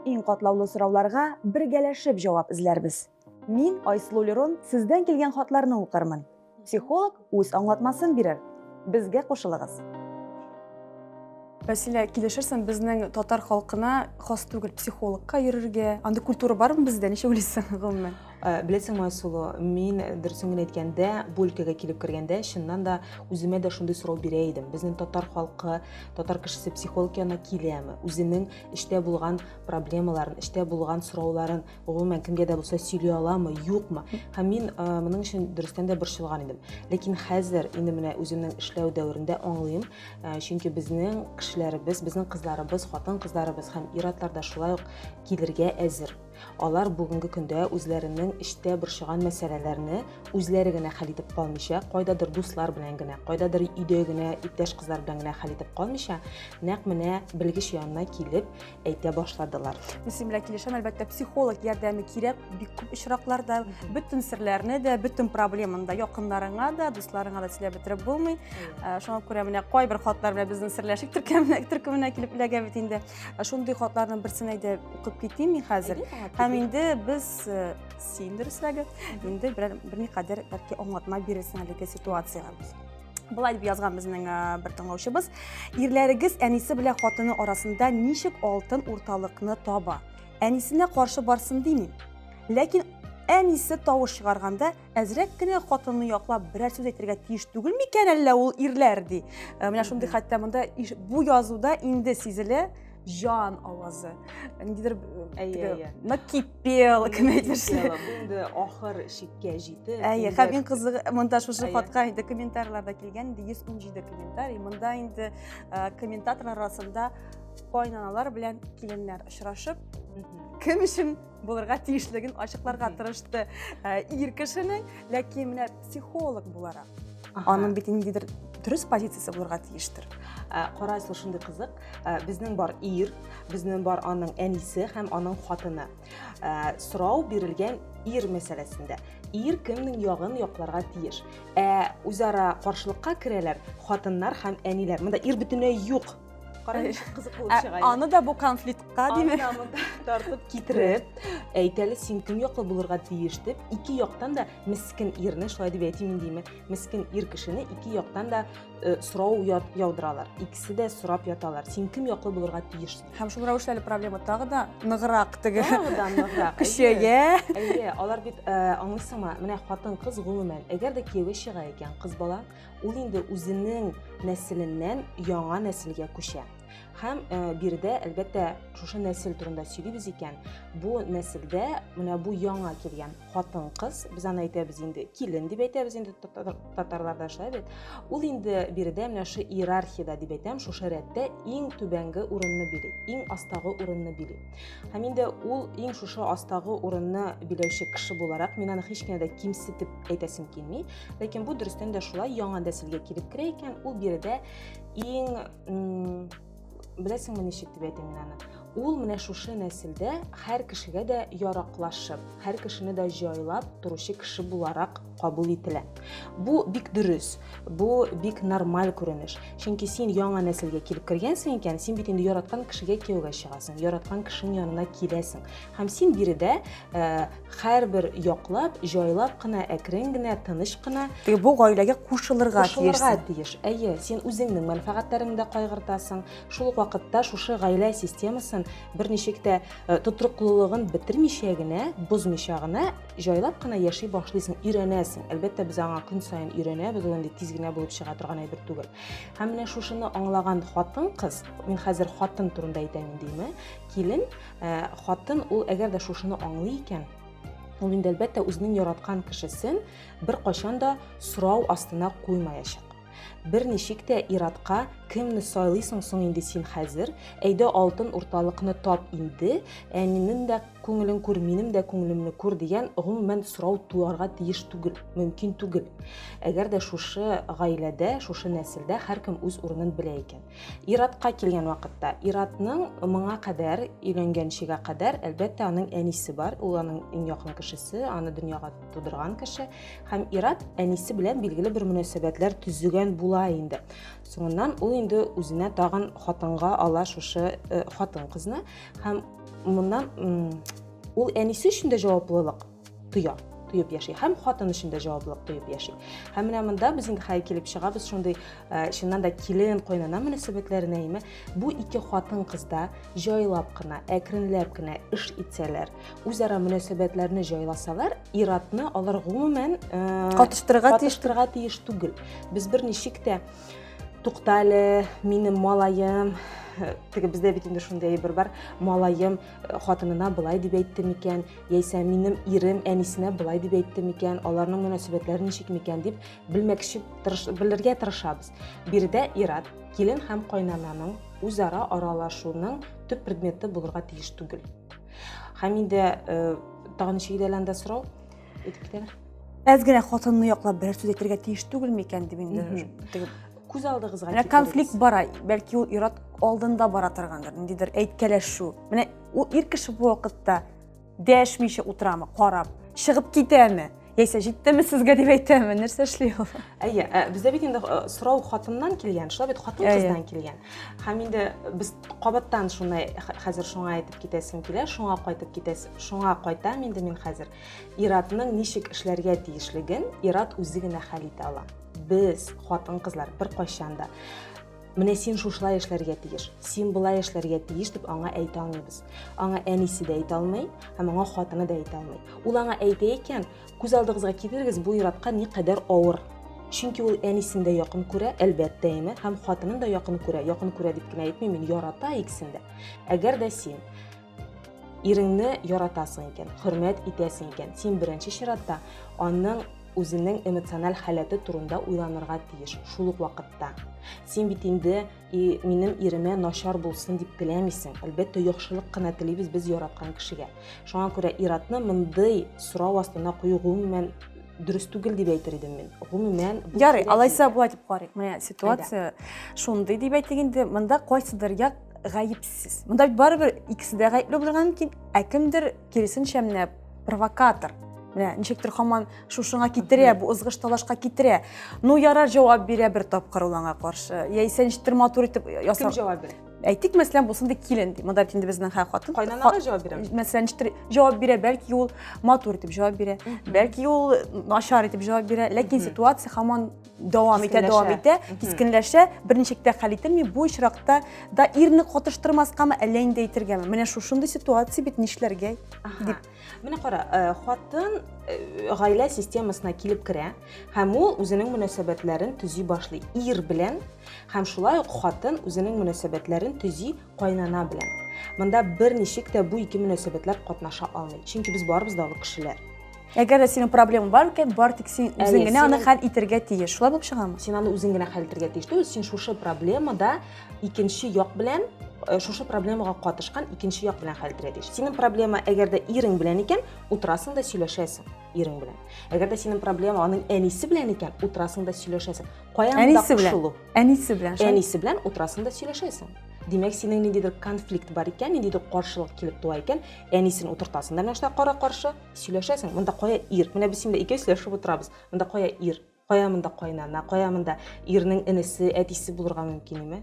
Иң катлаулы сорауларга бергәләшеп җавап эзләрбез. Мин, Айсылу Лерон, сездән килгән хатларны укырмын. Психолог үз аңлатмасын бирер. Безгә кушылыгыз. Василия, килешерсең, безнең татар халкына хас түгел психологка йөрергә. Андый культура бармы бездә? Ничек уйлыйсың, гомумән? Э, беләсеңме айсылу мин дөресен генә әйткәндә бу өлкәгә килеп кергәндә чыннан да үземә дә шундый сорау бирә идем безнең татар халкы татар кешесе психолог янына киләме үзенең эчтә булган проблемаларын эчтә булган сорауларын гомумән кемгә дә булса сөйли аламы юкмы һәм мин э, моның өчен дөрестән дә борчылган идем ләкин хәзер инде менә үземнең эшләү дәверендә аңлыйм э, чөнки безнең кешеләребез безнең кызларыбыз хатын кызларыбыз һәм ир атлар да шулай ук килергә әзер Алар бүгенге көндә үзләренең эчтә борчыган мәсьәләләрне үзләре генә хәл итеп калмыйча, кайдадыр дуслар белән генә, кайдадыр өйдә генә иптәш кызлар белән генә хәл итеп калмыйча, нәкъ менә белгеч янына килеп әйтә башладылар. Мин синең белән килешәм, әлбәттә, психолог ярдәме кирәк, бик күп очракларда бөтен серләрне дә, бөтен проблеманы да якыннарыңа да, дусларыңа да сөйләп бетереп булмый. Ә, Шуңа күрә менә кайбер хатлар белән безнең серләшик төркеменә, төркеменә килеп эләгә бит инде. Шундый хатларның берсен әйдә укып китим мин хәзер. Һәм инде без э, син дөресрәге, инде берәр берникадәр бәлки аңлатма бирерсең әлеге ситуациягә. Былай дип язган безнең э, бер тыңлаучыбыз. Ирләрегез әнисе белән хатыны арасында ничек алтын урталыкны таба? Әнисенә каршы барсын димим. Ләкин әнисе тавыш чыгарганда әзрәк кенә хатынны яклап берәр сүз әйтергә тиеш түгел микән әллә ул ирләр ди э, менә шундый хәтта монда бу язуда инде сизелә жан авазы ниндидер э, накипел кем әйтмешли инде ахыр чиккә җитеп әйе һәм иң кызыгы монда шушы хатка инде комментарийларда килгән инде йөз ун җиде комментарий монда инде э, комментаторлар арасында кайнаналар белән киленнәр очрашып кем өчен булырга тиешлеген ачыкларга тырышты э, ир кешенең ләкин менә психолог буларак аның бит ниндидер дөрес позициясе булырга тиештер э, кара сул шундый кызык э, безнең бар ир безнең бар аның әнисе һәм аның хатыны сорау бирелгән ир мәсьәләсендә ир кемнең ягын якларга тиеш ә үзара каршылыкка керәләр хатыннар һәм әниләр монда ир бөтенләй юк аны да бу конфликтка димәк тартып китереп әйтәле син кем яклы булырга тиеш дип ике яктан да мескен ирне шулай дип әйтим индеме мескен ир кешене ике яктан да э, сорау яудыралар икесе дә сорап яталар син кем яклы булырга тиеш һәм шул рәвешле әле проблема тагы да ныграк теге тагы да ныграк көчәя әйе алар бит э, аңлыйсыңмы менә хатын кыз гомумән әгәр дә кияүгә чыга икән кыз бала Ул инде үзенең нәселеннән яңа нәселгә күчә. Һәм э, биредә, әлбәттә, шушы нәсел турында сөйлибез икән, бу нәселдә менә бу яңа килгән хатын-кыз, без аны әйтәбез инде, килен дип әйтәбез инде татарларда шулай бит. Ул инде биредә менә шушы иерархиядә дип әйтәм, шушы рәттә иң түбәнге урынны били, иң астагы урынны били. Һәм инде ул иң шушы астагы урынны биләүче кеше буларак, мин аны һич кенә дә кимсетеп әйтәсем килми, Ләкин бу дөрестән дә шулай, яңа нәселгә килеп керә икән, ул биредә иң беләсеңме ничек дип әйтим мин аны? Ул менә шушы нәселдә һәр кешегә дә яраклашып, һәр кешене дә җайлап торучы кеше буларак кабул ителә. Бу бик дөрес, бу бик нормаль күренеш. Чөнки син яңа нәселгә килеп кергәнсең икән, син бит инде яраткан кешегә кияүгә чыгасың, яраткан кешенең янына киләсең. Һәм син биредә э, Хәрбер яклап, җайлап кына, әкрен генә, тыныч кына. Теге бу гаиләгә кушылырга тиеш. Кушылырга тиеш. Әйе, син үзеңнең мәнфәгатьләреңне дә кайгыртасың. Шул ук вакытта шушы гаилә системасын берничек тә э, тотрыклылыгын бетермичә генә, бозмича гына, җайлап кына яши башлыйсың, өйрәнәсең. Әлбәттә, без аңа көн саен өйрәнәбез, ул инде тиз генә булып чыга торган әйбер түгел. Һәм менә шушыны аңлаган хатын-кыз, мин хәзер хатын турында әйтәм, димме? Килен Ә, хатын ул әгәр дә шушыны аңлый икән, ул инде әлбәттә үзенең яраткан кешесен беркайчан да сорау астына куймаячак. Берничек тә иратка кемне сайлыйсың соң инде син хәзер? Әйдә алтын урталыкны тап инде, әнинең дә күңелен күр, минем дә күңелемне күр дигән гомумән сорау туарга тиеш түгел, мөмкин түгел. Әгәр дә шушы гаиләдә, шушы нәселдә һәркем үз урынын белә икән. Иратка килгән вакытта, Иратның моңа кадәр, өйләнгәнчегә кадәр, әлбәттә, аның әнисе бар, ул аның иң якын кешесе, аны дөньяга тудырган кеше. Һәм Ират әнисе белән билгеле бер мөнәсәбәтләр төзегән була инде. Соңыннан ул инде үзенә тагын хатынга ала шушы э, хатын-кызны һәм моннан ул әнисе өчен дә җаваплылык тоя, тоеп яши. Һәм хатын өчен дә җаваплылык тоеп яши. Һәм менә монда без инде хәй килеп чыгабыз шундый э, чыннан да килен кайнана мөнәсәбәтләренә име. Бу ике хатын кызда җайлап кына, әкренләп кенә эш итсәләр, үзара мөнәсәбәтләрне җайласалар, иратны алар гомумән э, катыштырырга тиеш, тиеш түгел. Без берничек тә туктале, минем малаем, теге бездә бит инде шундый әйбер бар малаем хатынына былай дип әйтте микән, яисә минем ирем әнисенә былай дип әйтте микән, аларның мөнәсәбәтләре ничек микән дип белмәкче, тырыш, белергә тырышабыз. Биредә ират, килен һәм кайнананың үзара аралашуының төп предметы булырга тиеш түгел. Һәм инде э, тагын ничек дә сорау, әйтеп китәләр әз генә хатынны яклап берәр сүз әйтергә тиеш түгел микән дип инде күз алдыгызга менә конфликт бара бәлки ул ират алдында бара торгандыр ниндидер әйткәләшү менә ул ир кеше бу вакытта дәшмичә утырамы карап чыгып китәме яисә җиттеме сезгә дип әйтәме нәрсә эшли ул әйе ә, бездә бит инде э, сорау хатыннан килгән шулай бит хатын кыздан килгән һәм инде без кабаттан шуны хәзер шуңа әйтеп китәсем килә шуңа кайтып китәс шуңа кайтам инде мин хәзер Ир-атның ничек эшләргә тиешлеген ир-ат үзе генә хәл итә ала. Без, хатын-кызлар, беркайчан да менә син шушылай эшләргә тиеш, син болай эшләргә тиеш дип аңа әйтә алмыйбыз. Аңа әнисе дә әйтә алмый, һәм аңа хатыны да әйтә алмый. Ул аңа әйтә икән, күз алдыгызга китерегез, бу ир-атка ни кадәр авыр. Чөнки ул әнисен дә якын күрә, әлбәттә инде, һәм хатынын да якын күрә. Якын күрә дип кенә әйтмим, мин ярата икесен дә. Әгәр дә син Иреңне яратасың икән, хөрмәт итәсең икән, син беренче чиратта аның үзенең эмоциональ халәте турында уйланырга тиеш шул ук вакытта син бит инде и минем иремә начар булсын дип теләмисең әлбәттә яхшылык кына телибез без яраткан кешегә шуңа күрә иратны мондый сорау астына кую гомумән дөрес түгел дип әйтер идем мин гомумән ярый алайса болай дип карыйк менә ситуация шундый дип әйтик инде монда кайсыдыр як гаепсез мында бит барыбер икесе дә гаепле булырга мөмкин ә кемдер киресенчә менә провокатор менә ничектер хаман шушыңа китерә бу ызгыш талашка китерә ну ярар җавап бирә бер тапкыр ул аңа каршы яисә ничектер матур итеп ясап кем җавап бирә әйтик мәсәлән булсын ди килен ди монда инде безнең һәр хатын кайнанага җавап бирә мәсәлән ничектер җавап бирә бәлки ул матур итеп җавап бирә бәлки ул начар итеп җавап бирә ләкин ситуация хаман дәвам итә, дәвам итә, кискенләшә, берничек тә хәл ителми. Бу очракта да ирне катыштырмаскамы, әллә инде әйтергәме? Менә шушындый ситуация бит нишләргә? Дип. Менә кара, э, хатын э, гаилә системасына килеп керә һәм ул үзенең мөнәсәбәтләрен төзи башлый ир белән һәм шулай ук хатын үзенең мөнәсәбәтләрен төзи кайнана белән. Монда бер ничек тә бу ике мөнәсәбәтләр катнаша алмый, чөнки без барыбыз да олы кешеләр. Әгәр дә синең проблемаң бар икән, бар тик син үзең генә аны хәл итәргә тиеш. Шулай булып чыгамы? Син аны үзең генә хәл итәргә тиеш. Түгел, син шушы проблемада икенче як белән э, шушы проблемага катышкан икенче як белән хәл итәргә тиеш. Синең проблема әгәр дә ирең белән икән, утырасың да сөйләшәсең. ирең белән. Әгәр дә синең проблема аның әнисе белән икән, утырасың да сөйләшәсең. Каян да кушылу? Әнисе белән. Әнисе белән утырасың да сөйләшәсең. Димәк, синең ниндидер конфликт бар икән, ниндидер каршылык килеп туа икән, әнисен утыртасың да нәрсә кара-каршы сөйләшәсең. Монда кая ир? Менә без синдә икәү сөйләшеп утырабыз. Монда кая ир? кая монда кайнана кая монда ирнең энесе әтисе булырга мөмкин име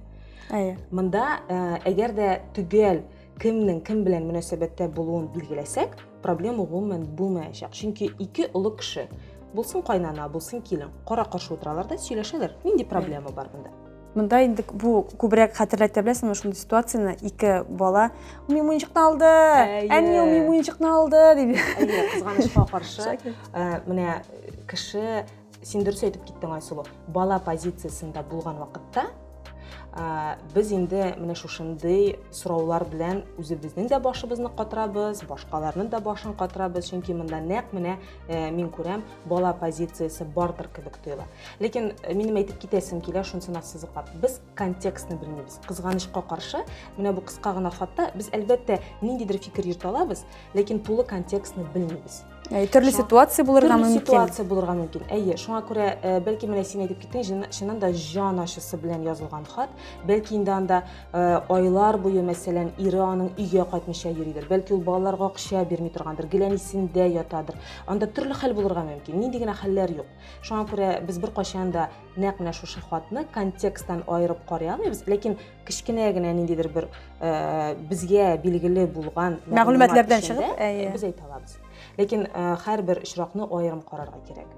әйе монда э, әгәр дә төгәл кемнең кем белән мөнәсәбәттә булуын билгеләсәк проблема гомумән булмаячак чөнки ике олы кеше булсын кайнана булсын килен кара каршы утыралар да сөйләшәләр нинди проблема бар монда Монда инде бу күбрәк хәтерләтә беләсеңме шундый ситуацияне, ике бала ми муенчыкны алды, әни ми муенчыкны алды дип. Әйе, кызганычка каршы, э, менә кеше син дөрес әйтеп киттең Айсылу, бала позициясендә булган вакытта э, без инде менә шушындый сораулар белән үзебезнең дә башыбызны катырабыз, башкаларның да башын катырабыз, чөнки монда нәкъ менә Э, мин күрәм бала позициясе бардыр кебек тоела ләкин э, минем әйтеп китәсем килә шунысын ассызыклап без контекстны белмибез кызганычка каршы менә бу кыска гына хатта без әлбәттә ниндидер фикер йөртә алабыз ләкин тулы контекстны белмибез э, төрле ситуация булырга мөмкин төрле ситуация булырга мөмкин әйе шуңа күрә бәлки менә син әйтеп киттең чыннан да җан ачысы белән язылган хат бәлки инде анда Э, айлар буе мәсәлән ире аның өйгә кайтмыйча йөридер бәлки ул балаларга акча бирми торгандыр геләнисендә ятадыр анда төрле хәл булырга мөмкин нинди генә хәлләр юк шуңа күрә без беркайчан да нәкъ менә шушы хатны контексттан аерып карый алмыйбыз ләкин кечкенә генә ниндидер бер э, безгә билгеле булган мәгълүматлардан чыгып э, без әйтә алабыз ләкин һәрбер очракны аерым карарга кирәк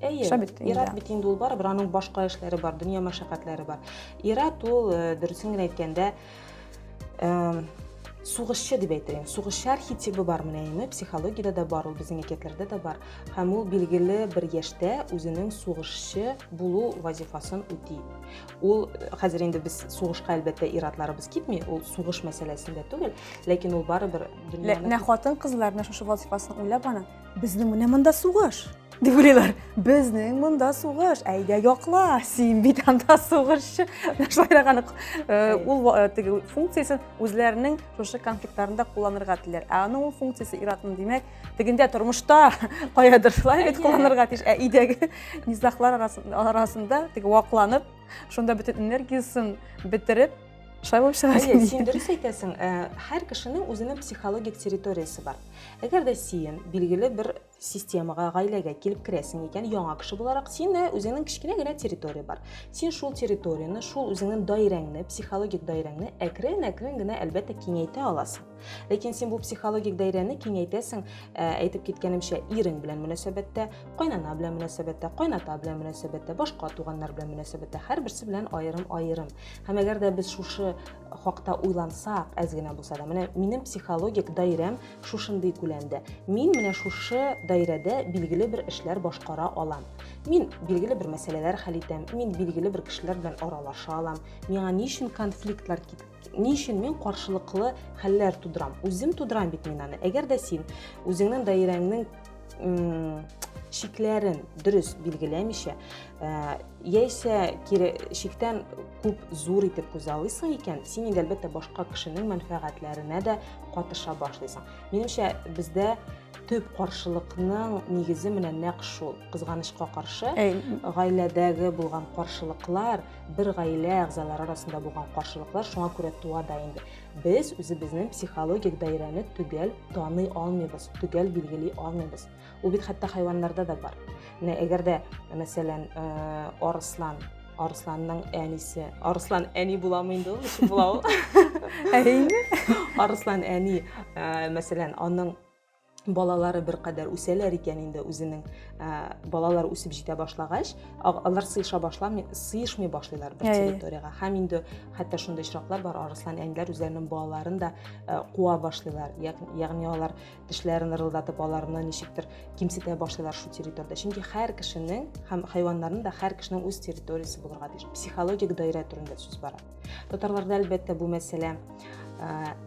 Әйе. Эшләп бит инде. Ират бит инде ул барыбер аның башка эшләре бар, дөнья мәшәкатьләре бар. Ират ул э, дөресен генә әйткәндә э, сугышчы дип әйтәйен. Сугышчы архетибы бар менә инде, психологиядә дә бар, ул безнең әкиятләрдә дә бар. Һәм ул билгеле бер яшьтә үзенең сугышчы булу вазифасын үти. Ул э, хәзер инде без сугышка әлбәттә иратларыбыз китми, ул сугыш мәсьәләсендә түгел, ләкин ул барыбер дөньяны Лә хатын-кызлар менә шушы вазифасын уйлап аны Безнең менә монда сугыш. Дип уйлыйлар. Безнең монда сугыш. Әйдә якла. Син бит анда сугышчы. Шулайраган э, ул э, теге функциясен үзләренең шушы конфликтларында кулланырга теләр. Ә аның ул функциясе иратның димәк, тегендә тормышта каядыр шулай бит кулланырга тиеш. Ә идәге низахлар арасында теге вакланып, шунда бөтен энергиясен бетереп, Шулай булып чыга. Әйе, син дөрес әйтәсең. Э, һәр кешенең үзенең психологик территориясе бар. Әгәр дә син билгеле бер системага, гаиләгә килеп керәсең икән, яңа кеше буларак, сине үзеңнең кечкенә генә территория бар. Син шул территорияне, шул үзеңнең даирәңне, психологик даирәңне әкрен-әкрен генә әлбәттә киңәйтә аласың. Ләкин син бу психологик даирәне киңәйтәсең, э, әйтеп киткәнемчә, ирең белән мөнәсәбәттә, кайнана белән мөнәсәбәттә, кайната белән мөнәсәбәттә, башка туганнар белән мөнәсәбәттә, һәрберсе белән аерым-аерым. Һәм әгәр дә без шушы хакта уйлансак, әз генә булса да, менә минем психологик даирәм шушындый күләмдә. Мин менә шушы даирәдә билгеле бер эшләр башкара алам. Мин билгеле бер мәсьәләләр хәл итәм, мин билгеле бер кешеләр белән аралаша алам. Миңа ни өчен конфликтлар кит ни өчен мин каршылыклы хәлләр тудырам? Үзем тудырам бит мин аны. Әгәр дә син үзеңнең даирәңнең шикләрен дөрес билгеләмичә ә, яисә кире шиктән күп зур итеп күзаллыйсың икән син инде әлбәттә башка кешенең мәнфәгатьләренә дә катыша башлыйсың минемчә бездә төп каршылыкның нигезе менә нәкъ шул кызганычка каршы гаиләдәге булган каршылыклар бер гаилә әгъзалары арасында булган каршылыклар шуңа күрә туа да инде Без үзебезнең психологик даирәне төгәл таный алмыйбыз, төгәл билгели алмыйбыз. Ул бит хәтта хайваннарда да бар. Менә әгәр дә, мәсәлән, э, арыслан Арысланның әнисе. Арыслан әни буламы инде ул? Ничек була ул? Әйеме? Арыслан әни, э, мәсәлән, аның балалары бер кадәр үсәләр икән инде үзенең ә, балалар үсеп җитә башлагач алар сыеша башламый сыешмый башлыйлар бер территориягә һәм инде хәтта шундый очраклар бар арыслан әниләр үзләренең балаларын да ә, куа башлыйлар ягъни алар тешләрен ырылдатып аларны ничектер кимсетә башлыйлар шул территорияда чөнки һәр кешенең һәм хайваннарның да һәр кешенең үз территориясе булырга тиеш психологик даирә турында сүз бара Татарларда әлбәттә бу мәсьәлә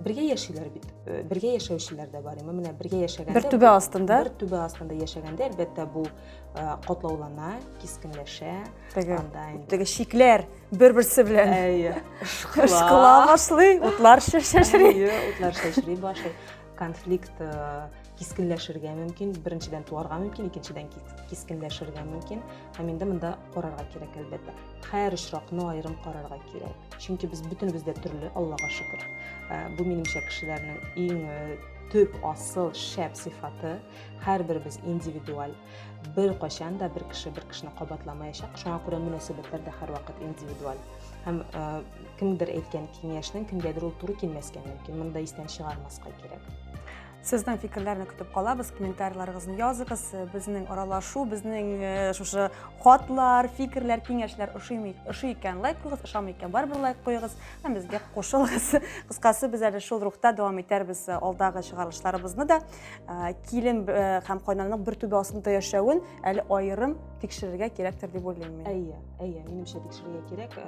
бергә яшиләр бит э, бергә яшәүчеләр дә бар менә бергә яшәгәндә бер түбә астында бер түбә астында яшәгәндә әлбәттә бу э, катлаулана кискенләшә анда теге шикләр бер берсе белән ышкыла башлый утлар шешри утлар шешри башлый конфликт э, кискенләшергә мөмкин беренчедән туарга мөмкин икенчедән кискенләшергә мөмкин һәм инде монда карарга кирәк әлбәттә һәр очракны аерым карарга кирәк чөнки без бөтенебез дә төрле аллага шөкер э, бу минемчә кешеләрнең иң э, төп асыл шәп сыйфаты һәрберебез индивидуаль бер кайчан да бер кеше бер кешене кабатламаячак шуңа күрә мөнәсәбәтләр дә һәрвакыт индивидуаль һәм ә, кемдер әйткән киңәшнең кемгәдер ул туры килмәскә мөмкин монда истән чыгармаска кирәк Сезнең фикерләрне көтеп калабыз, комментарийларыгызны языгыз. Безнең аралашу, безнең э, шушы хатлар, фикерләр, киңәшләр ошыймы, ошый икән лайк куйгыз, ошамый икән барыбер лайк куйгыз һәм безгә кушылыгыз. Кыскасы, без әле шул рухта дәвам итәрбез э, алдагы чыгарылышларыбызны да. килен һәм кайнаның бер түбә астында яшәвен әле аерым тикшерергә кирәктер дип уйлыйм мин әйе әйе минемчә тикшерергә кирәк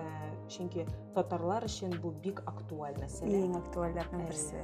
чөнки татарлар өчен бу бик актуаль мәсьәлә иң актуальләрнең берсе